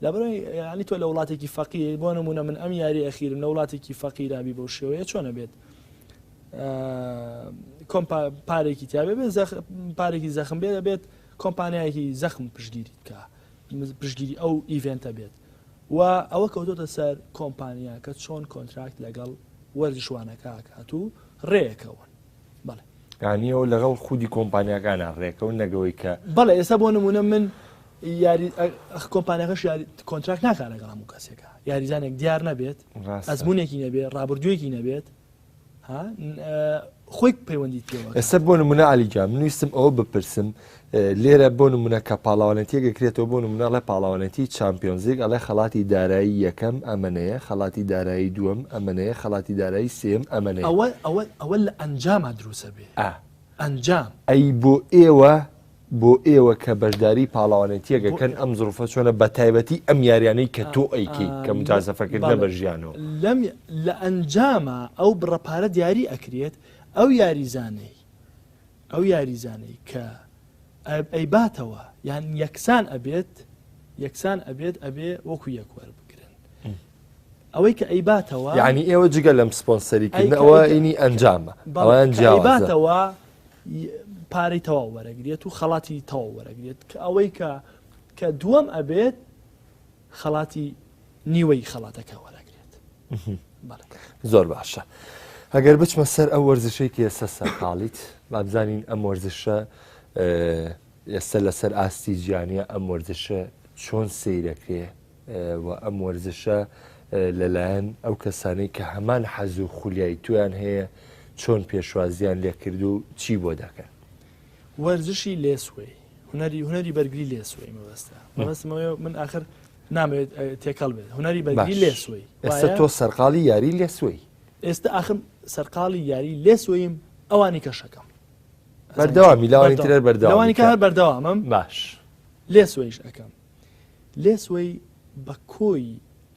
لەبەرەی یانی تۆ لە وڵاتێکی فەقیری بۆ نمونە من ئەم یاری ئەخیرم لە وڵاتێکی فەقیرابی بەو شێوەیە چۆنە بێت کۆم پارێکی تیاێ بێت پارێکی زەخم بێ دەبێت کۆمپانیایەکی زەخم پشگیری بکە پشگیری ئەو ئیڤنتە بێت و ئەوە کەوتۆتە سەر کۆمپانیا کە چۆن کۆنتراکت لەگەڵ وەرزشوانەکە کات و ڕێەکەون یانیەوە لەگەڵ خودی کۆمپانیاکانە ڕێکە و نەگەوەی کە بەڵێ ئێستا بۆ نمونە من یاری کۆمپانیەکەش یاری کۆنتراک ناکارە گەڵام و کەسێکە یاریزانێک دیار نەبێت ئەزمونێکی نەبێت ڕابردوویەکی نەبێت خۆی پەیوەندی پێوە ئێستا بۆ نمونە علیجا منویستم ئەوە بپرسم لێرە بۆ نمونە کە پاڵەوانێتیەک ئەکرێتەوە بۆ نمونە ئەڵێ پاڵەوانێتی چامپیۆنزیگ ئەڵێ خەڵاتی دارایی یەکەم ئەمەنەیە خەڵاتی دارایی دووەم ئەمەنەیە خەڵاتی دارایی سێیەم ئەمەنەیە. ئەوە ئەوە ئەوە لە ئەنجاما دروست ئەبێ ئا ئەنجام. ئەی بۆ ئێوە بۆ ئێوە کە بەشداری پاڵەوانێتیەک ئەکەن ئەم زڕوفە چۆنە بە تایبەتی ئەم یاریانەی کە تۆ ئەیکەی کە موجازەفە کردنە بە ژیانەوە. لەم لە ئەنجاما ئەو بڕە پارە دیاری ئەکرێت ئەو یاریزانەی ئەو یاریزانەی کە ئەیباتەوە یان یەکسان ئەبێت یەکسان ئەبێت ئەبێ وەکو یەک وەربگرن ئەوەی کە ئەیباتەوە ینی ئێوە جگە لەم سپۆنسەریکردنەوە ئینی ئەنجامە بەڵیان جیاباتەوە پارەی تەواو وەرەگرێت و خەڵاتی تەواو وەرەگرێت کە ئەوەی کە کە دووەم ئەبێت خەڵاتی نیوەی خەڵاتەکە وەرەگرێت بەڵێ زۆر باشە ئەگەر بچمە سەر ئەو وەرزشەی کە ئێستا سەرقاڵیت با بزانین ئەم وەرزشە اه، ئێستا لەسەر ئاستی جیانە ئەم وەرزشە چۆن سیرەکرێ اه، و ئەم وەرزشە اه، لەلایەن ئەو کەسانەی کە هەمان حەز و خولیای تویان هەیە چۆن پێشوازیان لێکرد و چی بۆ دەکەن وەرزشی لێسوەی هونەری هونەری بەرگری لێ سوی مەبەستە مەبەستمەوە من آخر نامەوێت تێکەڵ بێت هونەری بەرگری لێ سوی ئێستا تۆ سەرقاڵی یاری لێ سوی ئێستا آخم سەرقاڵی یاری لێ سویم ئەوانی کەشەکەم بەردەوامی لاوانی ترەر بەردەوانی کە هەر بەردەوامم باش لێ سویش ئەەکەم لێ سوی بە کۆی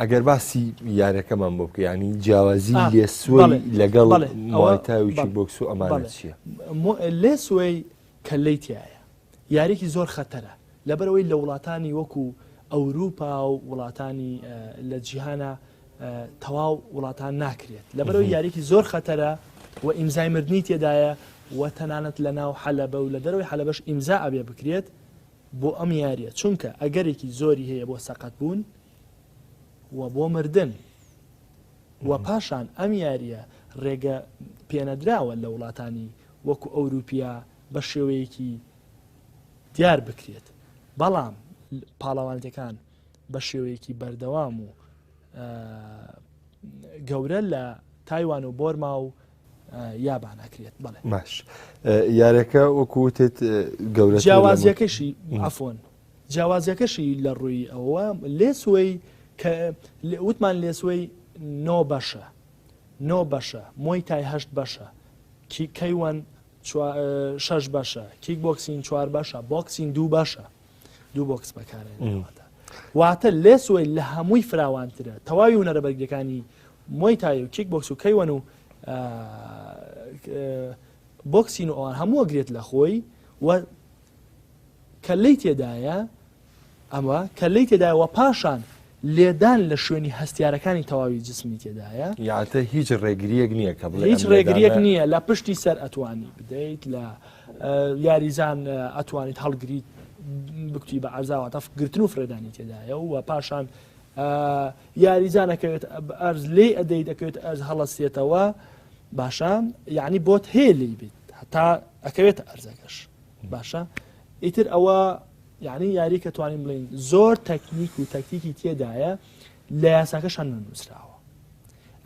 ئەگەر باسی یارەکەمان بۆ بکە ینی جیاوازی لێسوە لەگەڵ ماوەتاویی بۆکس و ئەمانە چییە؟ لێ سوێی کەلەی تایە یاریکی زۆر خەتەرە لەبەرەوەی لە وڵاتانی وەکو ئەوروپا و وڵاتانی لە جیهانە تەواو وڵاتان ناکرێت لەبەرەوەی یاریکی زۆر خەتەرە و ئیمزای مردنی تێدایە و تەنانەت لە ناو حەلەبە و لە دەرەوەی حەلەبەش ئیمزا ئەبێ بکرێت بۆ ئەم یارییە، چونکە ئەگەرێکی زۆری هەیە بۆ سەقەتبوون و بۆ مردن و پاشان ئەم یارییە رێگە پێنەدراوە لە وڵاتانی وەکو ئەوروپیا بە شێوەیەکی دیار بکرێت، بەڵام پاڵەوانێتەکان بە شێوەیەکی بەردەوام و گەورە لە تایوان و بۆرما و یابان ئەکرێت بڵێ باش یارەکە وەکوتێت گەورە جیاوازیەکەشی ئەفۆن جیاوازیەکەشی لە ڕووی ئەوە لێسوەی کە وتمان لێسوەی نۆ بەشە نۆ بەشە مۆی تای هەشت بەشە کی کەیوەن شش بەشە کیک بۆکسین چوار بەشە بۆکسین دوو بەشە دوو بۆکس بەکارێنەوەدا واتە لێسۆی لە هەمووی فراوانترە تەواوی ونەرە بەرگەکانی مۆی تای و کیک بۆکس و کەیوەن و بۆکسین و ئەوان هەمووە گرێت لە خۆی و کە لی تێدایە ئەمە کە لی تێدایەوە پاشان لێدان لە شوێنی هەستیارەکانی تەواوی جسمی تێدایە. یاعتە هیچ ڕێگریەک نییە کە بڵێ هیچ ڕێگریەک نییە لە پشتی سەر ئەتوانی بدەیت لە یاریزان ئەتوانیت هەڵگریت بکتی بە ئەرزاواتەف گرتن و فرێدانی تێدایە و پاشان یاریزانەکەوێت ئەرز لێ ئەدەی دەکەوێت ئەرز هەڵەسێتەوە باشە یعنی بۆت هێلی بیت هەتا ئەکەوێت ئەرزەکەش باشە ئیتر ئەوە یانی یارییەک کە توانین بڵێین زۆر تەکنیک و تەکتیکی تێدایە لە یاساکەشان نەنووسراوە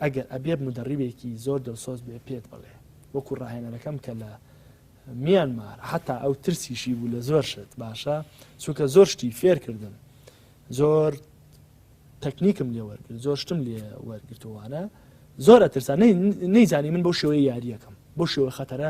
ئەگەر ئەبێ مدەڕیبێکی زۆر دڵسۆز بێ پێت بڵێ وەکو ڕاهێنەرەکەم کە لە میان مار حتا ئەو ترسیشی بوو لە زۆر شت باشە چونکە زۆر شتی فێر کردم زۆر تەکنیکم لێ وەرگرت زۆر شتم لێ وەرگرتوانە زۆر ئەترسان نەیزانی من بۆ شێوەی یاریەکەم بۆ شێوە خەتەرە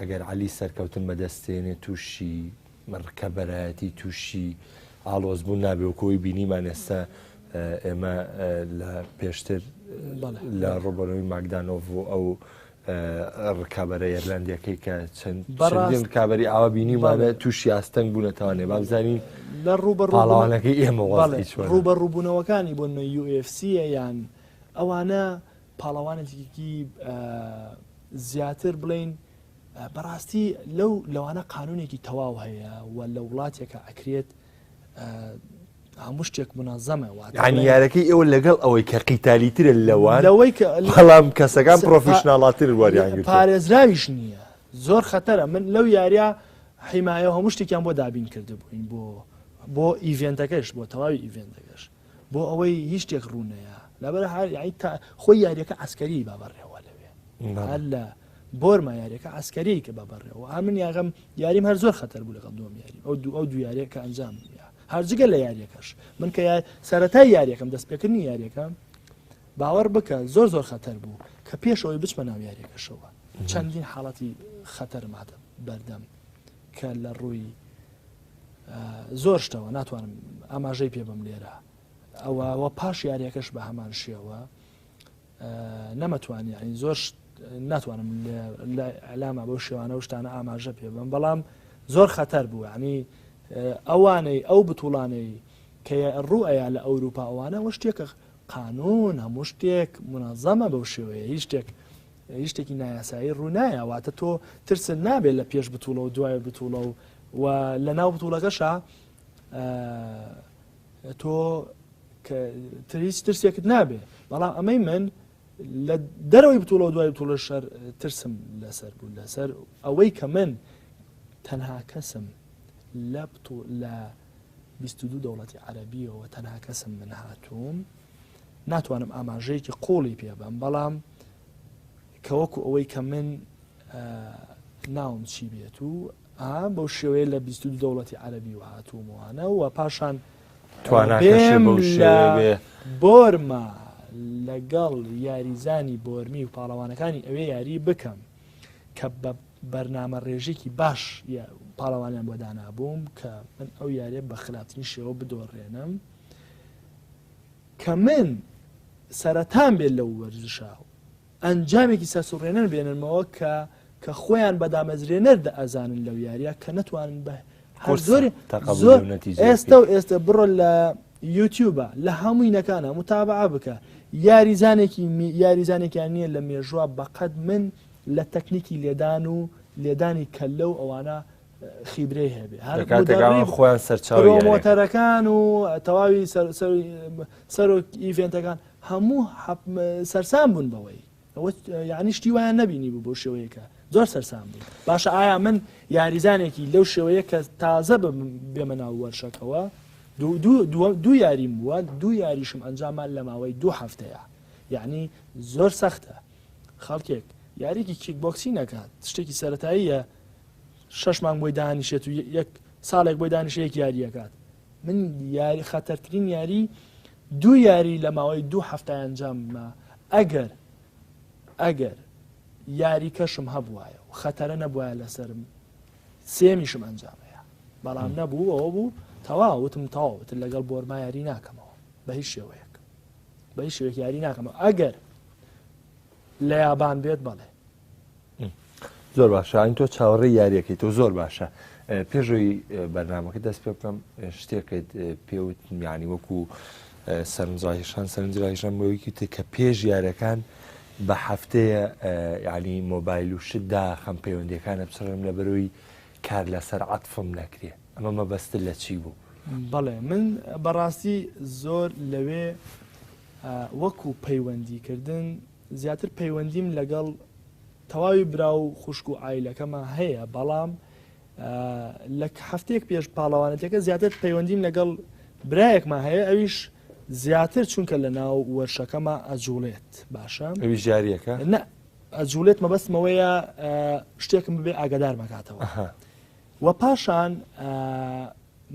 ئەگەر عەلی سەرکەوتن بەدەستێنێ تووشی ڕکەبەرایەتی تووشی ئاڵۆزبوون نابێ وەکەوەی بینیمان ئێستا ئێمە لە پێشتر لە ڕۆبەرەوەی ماکدانۆڤ و ئەو ڕکابەرە ئێرلندەکەی کە چەند ڕکابی ئاوا بینیمانە تووشی ئاستەنگ بوونەتەوانێ بابزانین لە ڕوبەڕوانەکەی ئێمە ڕوبەڕوبوونەوەکانی بۆ نە UFC یان ئەوانە پاڵەوانێتیکی زیاتر بڵێین بەڕاستی لەو لەوانە قانونێکی تەواو هەیە و لە وڵاتێکە ئەکرێت هەموو شتێک منازەمە وانیارەکەی ئەوە لەگەڵ ئەوەی کە قیتالیترە لەوان لەوەی بەڵام کەسەکان پرۆفیشنناڵاتر وەریان پارێزراویش نییە زۆر خەتەرە من لەو یاریە حیمایە هەموو شتێکیان بۆ دابین کرد بووین بۆ بۆ ئیڤێنتەکەش بۆ تەواوی ئیڤێنتەکەش بۆ ئەوەی هیچ شتێک ڕوونەیە لەبەر خۆی یاریەکە ئەسکەری با بەڕێوە لەوێ هەر لە بۆرما یاریەکە ئەسکەری کە بە بەڕێەوە ئامن یاغم یاریم هەر زۆر خەتەر بوو لەگەڵ دوم یاری ئەو دوو ئەو دو یاریەکە ئەنجام هەرجگە لە یاریەکەش من کە سەتای یاریەکەم دەستپێکردنی یاریەکە باوەڕ بکە زۆر زۆر خەتەر بوو کە پێشەوەی بچمە ناو یاریەکەشەوە چەندین حاڵەتی خەتەرمادە بەردەم کە لە ڕووی زۆر شتەوە ناتوانم ئاماژەی پێ بم لێرە ئەوەوە پاش یاریەکەش بە هەمان شێوە نەمەتوانی ئەین زۆر ناتوانم ئەلامە بەو شێوانە و شتانە ئاماژە پێ بم بەڵام زۆر خەتەر بوو عنی ئەوانەی ئەو بتوڵانەی کە ڕوو ئەیە لە ئەوروپا ئەوانە وە شتێکە قانون هەموو شتێک منازەمە بەو شێوەیە هیچ شتێک هیچ شتێکی نایاسایی ڕوو نایە واتە تۆ ترسن نابێت لە پێش بتوڵە و دوای بتوڵە و و لە ناو بتوڵەکەشە تۆ تریس ترسێکت نابێ بەڵام ئەمەی من لە دەرەوەی بتوڵە و دوای بتوڵە شەر ترسم لەسەر بوو لەسەر ئەوەی کە من تەنها کەسم لە لە 22 دەوڵەتی عەربیەوە تەنها کەسم من هاتووم ناتوانم ئاماژەیەکی قوڵی پێبم بەڵام کەوەکو ئەوەی کە من ناوم چی بێت و بەو شێوەیە لە 22 دەوڵەتی عەربی و هاتوومانە و پاشان بۆرما لەگەڵ یاریزانی بۆرمی و پاڵەوانەکانی ئەوێ یاری بکەم کە بە بەرنامە ڕێژێکی باش پاڵەوانیان بۆ دانابووم کە من ئەو یاریە بە خراپترین شێوە بدۆڕێنم کە من سەرەتام بێت لەو وەرزشە و ئەنجامێکی سەرسوڕێنەر بێننمەوە کە کە خۆیان بە دامەزرێنەر دەئەزانن لەو یاریە کە نەتوانن بە هەر زۆر زۆر ئێستا و ئێستا بڕۆ لە یوتیوبە لە هەمووینەکانە متابعە بکە یاریزانێکی یاریزانێکیان نییە لە مێژووە بەقەت من لە تەکنیکی لێدان و لێدانی کەلە و ئەوانە خیبرەی هەبێ خۆیان سەرچاومۆتەرەکان و تەواوی سەرۆک ئیڤێنتەکان هەموو سەرسان بوون بەوەی یعنی شتی وایان نبینی بوو بۆ شێوەیەەکە زۆر سەرسان بوو باشە ئایا من یاریزانێکی لەو شێوەیە کە تازە بێمە ناو وەرشەکەەوە دوو یاریم بووە دوو یاریشم ئەنجامان لە ماوەی دوو هەفتەیە یعنی زۆر سەختە خەڵکێک یاریکی کیک بۆکسی نەکات شتێکی سەتاییە شەش مانگ بۆی دانیشێت و یەک ساڵێک بۆی دانیشە یەک یاریەکات من یاری خەتەرترین یاری دوو یاری لە ماوەی دوو هەفتە ئەنجاممە ئەگەر ئەگەر یاری کەشم هەبواە و خەتەرە نەبواە لەسرم سێمیشم ئەنجامەیە بەڵام نەبوو ئەوە بوو تەوا وتم تەواوت لەگەڵ بۆرما یاری ناکەمەوە بە هیچ شێوەیەک بە هیچ شوێک یاری ناکەمەوە ئەگەر لە یابان بێت بەڵێ زۆر باشە ئاین تۆ چاوەڕێ یاریەکەی تۆ زۆر باشە پێشەوەی بەرنمەکە دەست پێ بکەم شتێکت پێوت میانی وەکو سەرنجڕاهشان سەرنجڕاهشان بۆیکی تێ کە پێش یارەکان بە هەفتەیە ینی مۆبایل و شتدا خەم پەیوەندەکانە بچڕم لە بەرۆی کار لەسەر عاتفم نەکرێ ئەمە مەبەست لە چی بوو بەڵێ من بەڕاستی زۆر لەوێ وەکو پەیوەندیکردن زیاتر پەیوەندیم لەگەڵ تەواوی برا و خوشک و عیلەکەمە هەیە بەڵام لە هەفتەیەک پێش پاڵەوانەتەکە زیاتر پەیوەندیم لەگەڵ برایەکمان هەیە ئەویش زیاتر چونکە لە ناو وەرشەکەمە ئەجوڵێت باشە ئەوی جاریەکە نە ئەجوڵێت مەبەستمەوەیە شتێکم ببێ ئاگدار مەکاتەوە وە پاشان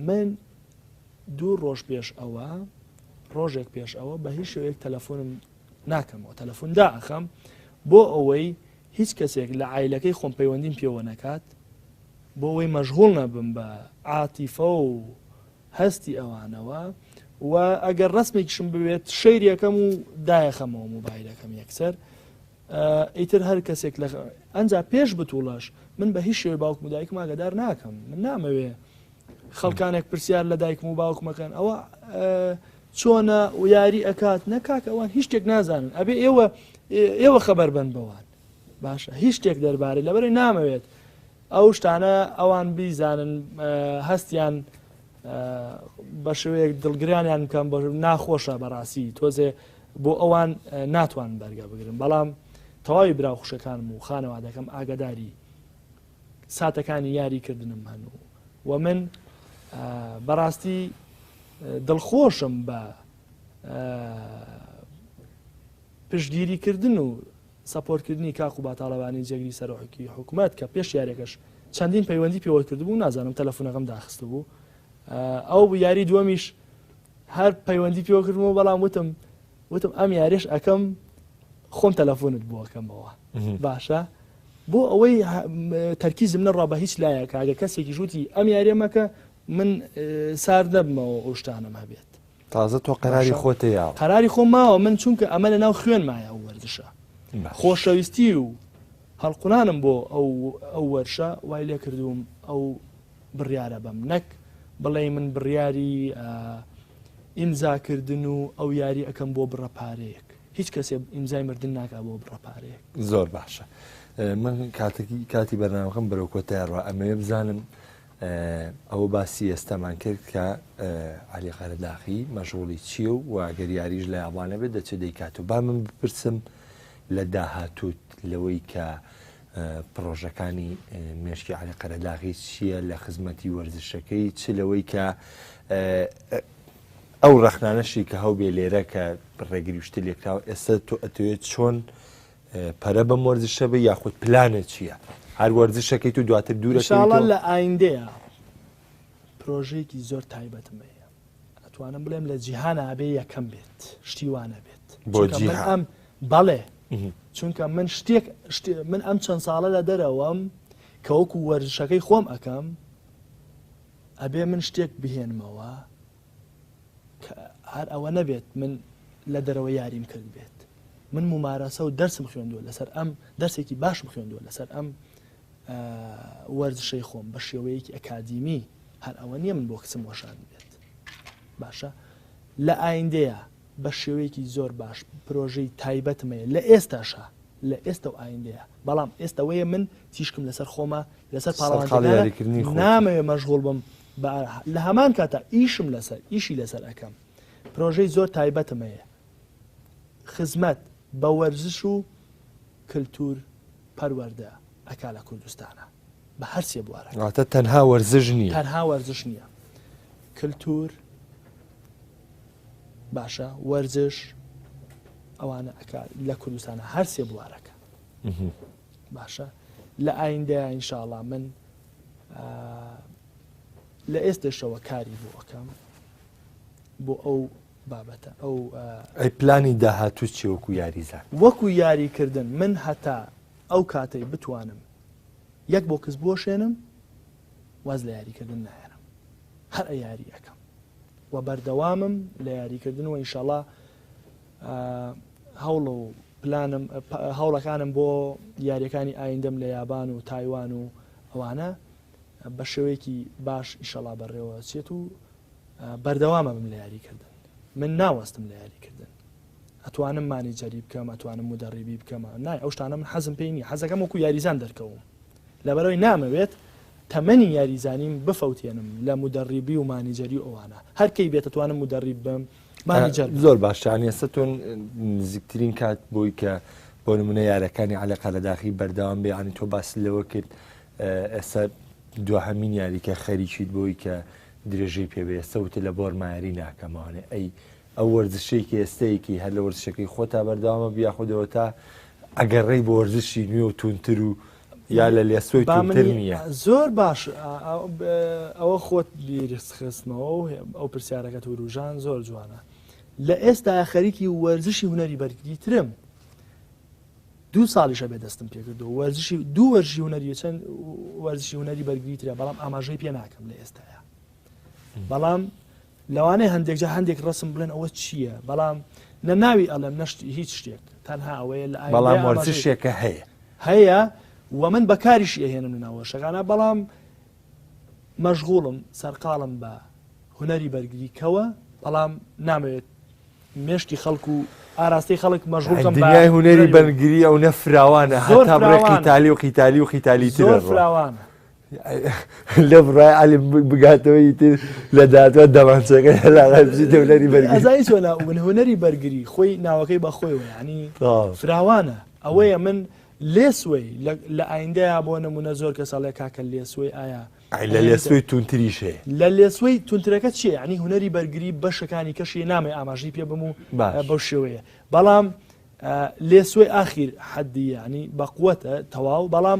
من دوو ڕۆژ پێش ئەوە ڕۆژێک پێش ئەوە بە هیچ شوێک تەلەفۆنم ناکەمەوە تەلەفون دائەخەم بۆ ئەوەی هیچ کەسێک لە ئایلەکەی خۆم پەیوەندیم پێوە نەکات بۆ ئەوەی مەژغول نەبم بە عاتیفە و هەستی ئەوانەوە و ئەگەر ڕسمێکیشم بوێت شەیرەکەم و دایەخەمەوە موبایلەکەم یەکسەر ئیتر هەر کەسێک لە ئەنج پێش بتوڵەش من بە هیچ شێوەی باوکم دایکم ئاگدار ناکەم من نامەوێ خەڵکانێک پرسیار لە دایکم و باوکمە کەن ئەوە چۆنە و یاری ئەکات نە کاک ئەوان هیچ شتێک نازانن ئەبێ ئێوە ئێوە خەبەر بن بەوان باشە هیچ شتێک دەربارەی لەبەرەی نامەوێت ئەو شتانە ئەوان بیزانن هەستیان بە شوەیەک دڵگرانیان بکەم بە ناخۆشە بەڕاستی تۆزێ بۆ ئەوان ناتوان بەرگە بگرن بەڵام تەواوی براوخشەکانم و خانەوادەکەم ئاگداری ساتەکانی یاری کردنم هەن و و من بەڕاستی دڵخۆشم بە پشگیری کردن و سەپۆرتکردنی کاک و باتاڵەوانی جێگری سەرۆحکی حکوومەت کە پێش یارێکەش چەندین پەیوەندی پێوە کردبوو نازانم تەلەفۆنەکەم داخست بوو ئەو یاری دووەمیش هەر پەیوەندی پێوە کردمەوە بەڵام وتم وتم ئەم یاریش ئەەکەم خۆم تەلەفۆنت بووەکەمەوە باشە بۆ ئەوەی تەرکیزم نەڕا بە هیچ لایەکە ئەگە کەسێکی ژووتی ئەم یاریە مەکە من سار دەبمەوە ئەوشتانم هەبێت تازە تۆ قەراری خۆتە یا قەراری خۆ ماوە من چونکە ئەمە لە ناو خوێن مایە ئەو وەرزشە خۆشەویستی و هەڵقولانم بۆ ئەو ئەو وەرشە وای لێ کردووم ئەو بڕیاە بەم نەک بڵێ من بڕیاری ئیمزاکردن و ئەو یاری ئەەکەم بۆ بڕە پارەیەک هیچ کەسێ ئیمزای مردن ناکا بۆ بڕە پارەیەک. زۆر باشە من کاتێکی کاتی بەرنامەکەم بەرەو کۆتایڕە ئەمەوێ بزانم ئەوە باسی ئێستامان کرد کە علی قەرەداخی مەژغوڵی چییە و واگەر یاریش لە یابانە بێت دەچێت دەیکات و با من بپرسم لە داهاتوت لەوەی کە پرۆژەکانی مێشکی علی قەرەداغی چییە لە خزمەتی وەرزشەکەی چ لەوەی کە ئەو ڕەخنانەشی کە هەوبێ لێرە کە ڕێگری شتی لێکراوە ئێستا تۆ ئەتوێت چۆن پەرە بەم وەرزشە بە یاخود پلانە چییە هەر وەرزشەکەیت و دواتر دوورە شاڵە لە ئایندەیە پرۆژێکی زۆر تایبەتم هەیە ئەتوانم بڵێم لە جیهان ئابێ یەکەم بێت شتیوانە بێت بۆ ئەم بەڵێ چونکە من شتێک من ئەم چەند ساڵە لە دەرەوەم کەوەکو وەرزشەکەی خۆم ئەەکەم ئەبێ من شتێک بهێنمەوە کە هەر ئەوە نەبێت من لە دەرەوە یاریم کرد بێت من ممارەسە و دەرسم خوێندووە لەسەر ئەم دەرسێکی باشم خوێندووە لەسەر ئەم وەرزشەی خۆم بە شێوەیەکی ئەکادیمی هەر ئەوە نییە من بۆ کچم وەشان بێت باشە لە ئایندەیە بە شێوەیەکی زۆر باش پرۆژەی تایبەتمەیە لە ئێستاشە لە ئێستە و ئایندەیە بەڵام ئێستە وەیە من تیشکم لەسەر خۆمە لەسەر پاڵەوانتەکانە نامەوێ مەژغوڵ بم بە لە هەمان کاتا ئیشم لەسەر ئیشی لەسەر ئەکەم پرۆژەی زۆر تایبەتم هەیە خزمەت بە وەرزش و کلتور پەروەردە ئەکا لە کوردستانا. بە هەرسێ بوارەکە تەنها وەرزش نیە تەنها وەرزش نییە کللتور باشە وەرزش ئەوانە ئەک لە کوردستانە هەرسێ بوارەکە باشە لە ئایندەیە ئینشاءڵا من لە ئێستێشەوە کاری بۆ ئەەکەم بۆ ئەو بابەتە ئەو ئەی پلانی داهاتوو چێوەکو یاریزان وەکو یاریکردن من هەتا ئەو کاتەی بتوانم یەک بۆکس بوەشێنم واز لە یاریکردن نایەنم هەر یاری ئەەکەم و بەردەوامم لە یاریکردن و ئینشاڵا هەوڵە و پلانم هەوڵەکانم بۆ یاریەکانی ئایندەم لە یابان و تایوان و ئەوانە بە شێوەیەکی باش ئیشەڵا بەڕێوە چێت و بەردەوامە بم لە یاریکردن من ناوەستم لە یاریکردن ئەتوانم مانیجەری بکەم ئەتوانم مدەڕیبی بکەمە نای ئەو شتانە من حەزم پێی نیە حەزەکەم وەکو یاریزان دەرکەوم لەبەرەوەی نامەوێت تەمەنی یاریزانیم بفەوتێنم لە مدەڕیبی و مانیجەری ئەوانە هەرکەی بێتتوانم مدەڕیب بم مانیجەر زۆر باشتان ێستتون نزیکترین کات بۆی کە بۆ نمونە یارەکانی عەلەقا لە داخی بەردەوام بێ عنی تۆ باس لەوە کرد ئێستا دوهمین یاریکە خەریکیت بۆی کە درێژەی پێبێستە وتە لە بۆر مایری ناکەمانێ ئەی ئەو وەرزشەی کە ئێستەیەکی هەر لە وەرزشەکەی خۆتا بەردەوامە بە یاخود ئەوەتا ئەگەڕێی بۆ وەرزشی نوێ و توندتر و یا لە لێسۆی با من توندتر نییە؟ زۆر باش ئەوە خۆت بیرس خستمەوە و ئەو پرسیارەکەت وروژان زۆر جوانە لە ئێستا خەریکی وەرزشی هونەری بەرگری ترم دوو ساڵیشە بێ دەستم پێکردو وەرزشی دوو وەرزشی هونەری چەند وەرزشی هونەری بەرگری ترە بەڵام ئاماژەی پێ ناکەم لە ئێستایا بەڵام لەوانەیە هەندێک جا هەندێک ڕسم بڵێن ئەوە چییە بەڵام نە ناوی ئەڵێم نەشت هیچ شتێک تەنها ئەوەیە لە بەڵام وەرزشێکە هەیە هەیە و من بەکاریش ئەهێنم ناوە شەکانە بەڵام مەشغوڵم سەرقاڵم بە هوەری بەرگری کەوە بەڵام نامەوێت مێشتی خەڵکو و ئاراستەی خەڵک مەژغڵکەم دنیای هوەری بەرگری ئەو نەفراوانە هەتا بڕێکی تالی و قیتالی و قیتالی ترەوانە لێ بڕای علی بگاتەوە ئیتر لە دادوە دەمانچەکە هێلاغای بژی دەولەری بەرگری ئەزای چۆن من هونەری بەرگری خۆی ناوەکەی بە خۆیەوە یعنی فراوانە ئەوەیە من لێسوەی لە ئایندەیە بۆ نمونە زۆر کەس ئەڵێ کاکە لێسوەی ئایا لە لێسوەی تونتریش هەیە لە لێسوەی تونترەکە چیە ینی هونەری بەرگری بەشەکانی کەشی نامی ئاماژی پێ بم و بەو شێوەیە بەڵام لێسوەی ئاخیر حەدی ینی بەقوەتە تەواو بەڵام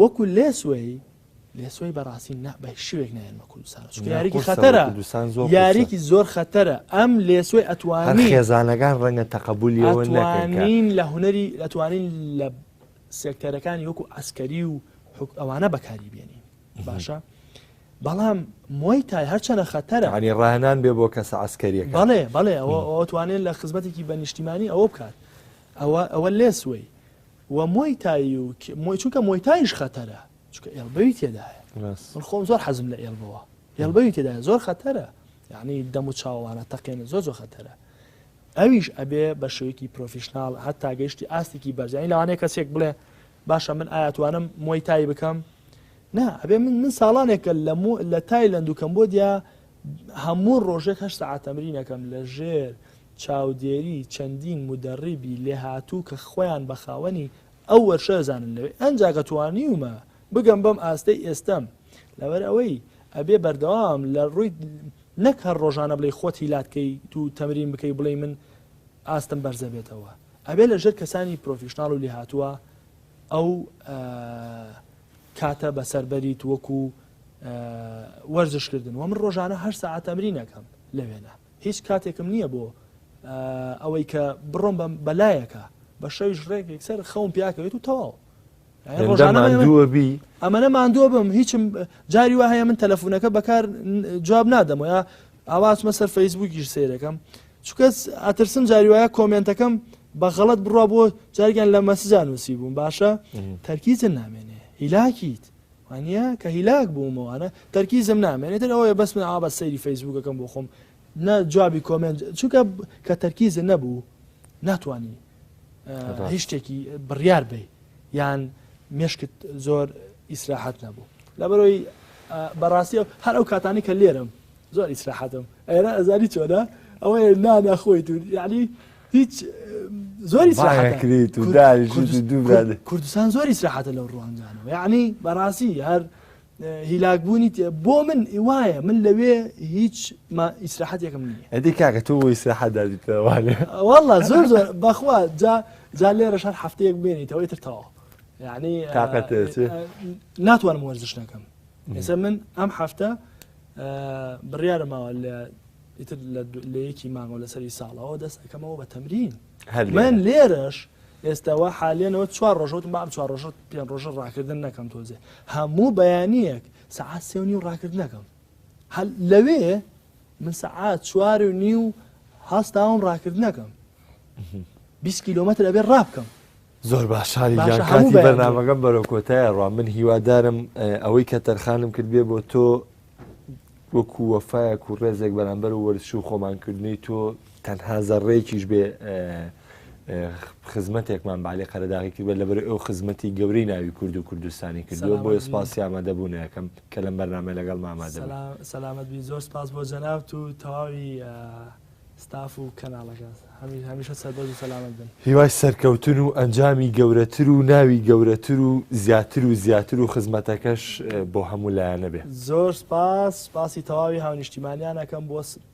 وەکو لێسوەی لێسوەی بەڕاستی نە بە هیچ شێوەیەک نایێنمە کوردستانەوە، چونکە یاریی خەتەرە، کوردستان زۆر قورسە. یاریی زۆر خەتەرە، ئەم لێسوەی هەر ئەتوانی خێزانەکان ڕەنگە تەقەبوولیەوە نەکەن کە ئەتوانین لە هونەری ئەتوانین لە سێکتەرەکانی وەکو عەسکەری و حوک ئەوانە بەکاری بێنین باشە بەڵام موای تای هەرچەنە خەتەرە یانی ڕاهێنان بێ بۆ کەسە عەسکەریەکە بەڵێ بەڵێ ئەوە ئەوە توانێت لە خزمەتێکی بە نیشتیمانی ئەوە بکات ئەوە ئەوە لێسوەی وە مۆی تای و مۆی چونکە مۆی تایش خەتەرە چونکە ئێڵبەوی تێدایە ڕاست من خۆم زۆر حەزم لە ئێڵبەوە ئێڵبەوی تێدایە زۆر خەتەرە یعنی دەم و چاوانە تەقێنە زۆر زۆر خەتەرە ئەویش ئەبێ بە شێوەیەکی پرۆفیشنال هەتا گەیشتی ئاستێکی بەرزانی لەوانەیە کەسێک بڵێ باشە من ئاياتوانم مۆی تای بکەم نا ئەبێ من من ساڵانێکە لە لە تایلند و کەمبۆدیا هەموو ڕۆژێک هەشت سەعات تەمرین ئەکەم لەژێر چاودێری چەندین مودەڕیبی لێهاتوو کە خۆیان بە خاوەنی ئەو وەرشە ئەزانن لەوێ ئەنجا کە توانیومە بگەم بەم ئاستەی ئێستەم لەبەر ئەوەی ئەبێ بەردەوام لە ڕووی نەک هەر ڕۆژانە بڵێ خۆت هیلاک کەی تو تەمرین بکەی بڵێ من ئاستم بەرزە بێتەوە ئەبێ لە ژێر کەسانی پرۆفیشنناڵ و لێهاتووە ئەو کاتە بەسەربەریت وەکو وەرزش کردن و من ڕۆژانە هەر ساعت تەمرین ئەەکەم لە وێنە هیچ کاتێکم نییە بۆ ئەوەی کە بڕۆم بەم بەلایەکە بە شەویش ڕێک یەکسەر خەوم پیاکەوێت و تەواو ڕۆژانەبی ئەمەە ماندووە بم هیچم جاری وە هەیە من تەلەفونەکە بەکار جواب نادەم وە ئاواتمە سەر فەیسبووکیش سیرەکەم چکەس ئەترسم جاری وایە کۆمنتەکەم بە غەڵت بڕوا بۆ جارگەن لە مەسجان نووسی بووم باشە تەرکیزن نامێنێ هیلاکیت وانیە کە هیلاک بوومەوە ئەنە تەرکیزم نامێنێ تر ئەوەیە بەس من ئاوا سەیری فەیسبووکەکەم بۆ خۆم نە جوابی کۆمێنت چونکە کە تەرکیزت نەبوو ناتوانی هیچ شتێکی بڕیار بی یان مێشکت زۆر ئیسراحەت نەبوو لەبەرەوەی بەڕاستی هەر ئەو کاتانی کە لێرم زۆر ئیسراحەتم ئێرە ئەزانی چۆنە ئەوەیە نا ناخۆیت و یعنی هیچ زۆر ئیسراحەتکریت و کوردستان زۆر ئیسراحەتە لەو ڕوانگانەوە یعنی بەڕاستی هەر هیلاکبوونی بۆ من وایە من لەوێ هیچ ئیسراحەتێکم نییە ئەدی کاکە تۆ بۆ ئیسراحەت دادیتەوانێ والله زۆر زۆر بەخوا جا جا لێرە شار هەفتەیەک بێنیتەوەی تر تەواو یعنی تااقەت ناتوانم وەرزش نەکەم ئێستا من ئەم هەفتە بڕیارە ماوە لە ئیتر لە یەکی مانگەوە لەسەری ساڵەوە دەست ئەەکەمەوە بە تەمرین من لێرەش ئێستاوە حالێنەوە چوار ڕۆژەوتم بام چوار ڕۆژە پێ ڕۆژە ڕاکردن نەکەم تۆزێ هەموو بەیانیەک سەعات سێونی و ڕاکردنەکەم هەل لەوێ من سەعات چوار و نی و هەستاوم ڕاکردنەکەم 20 کیلومتر ئەبێ ڕابکەم زۆر باش شاری باشە گیان هەموو کاتی بەیانییە. بەرنامەکەم بەرەو کۆتایە ڕوا من هیوادارم ئە، ئەوەی کە تەرخانم کرد بێ بۆ تۆ وەکو وەفایەک و ڕێزێک بەرامبەر و وەرزش و خۆمانکردنی تۆ تەنها زەڕەیەکیش بێ ئە، ئە، خزمەتێکمان بە عەلی قەرەداغی کرد بێ لەبەر ئەو خزمەتی گەورەی ناوی کورد و کوردستانی کردووە سەلامەت بۆیە بی. سوپاسی ئامادەبوونیەکەم کە لەم بەرنامەیە لەگەڵ مامادەبووی سەلام سەلامەت بی زۆر سپاس بۆ جەنابت و تەواوی ئە، ستاف و کەناڵەکە هەمیشە سەربەرز و سەلامەت بن. هیوای سەرکەوتن و ئەنجامی گەورەتر و ناوی گەورەتر و زیاتر و زیاتر و خزمەتەکەش بۆ هەموو لایەنە بێ. زۆر سپاس، سپاسی تەواوی هاونیشتیمانیان ئەکەم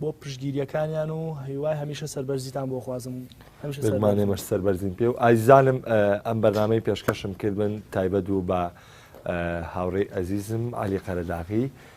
بۆ پشتگیریەکانیان و هیوای هەمیشە سەربەرزیتان بۆ ئەخوازم. بێگومان ئێمەش سەربەرزین پێ و ئازیزانم ئەم بەرنامەی پێشکەشم کردبن تایبەت بوو بە هاوڕێی ئەزیزم عەلی قەرەداغی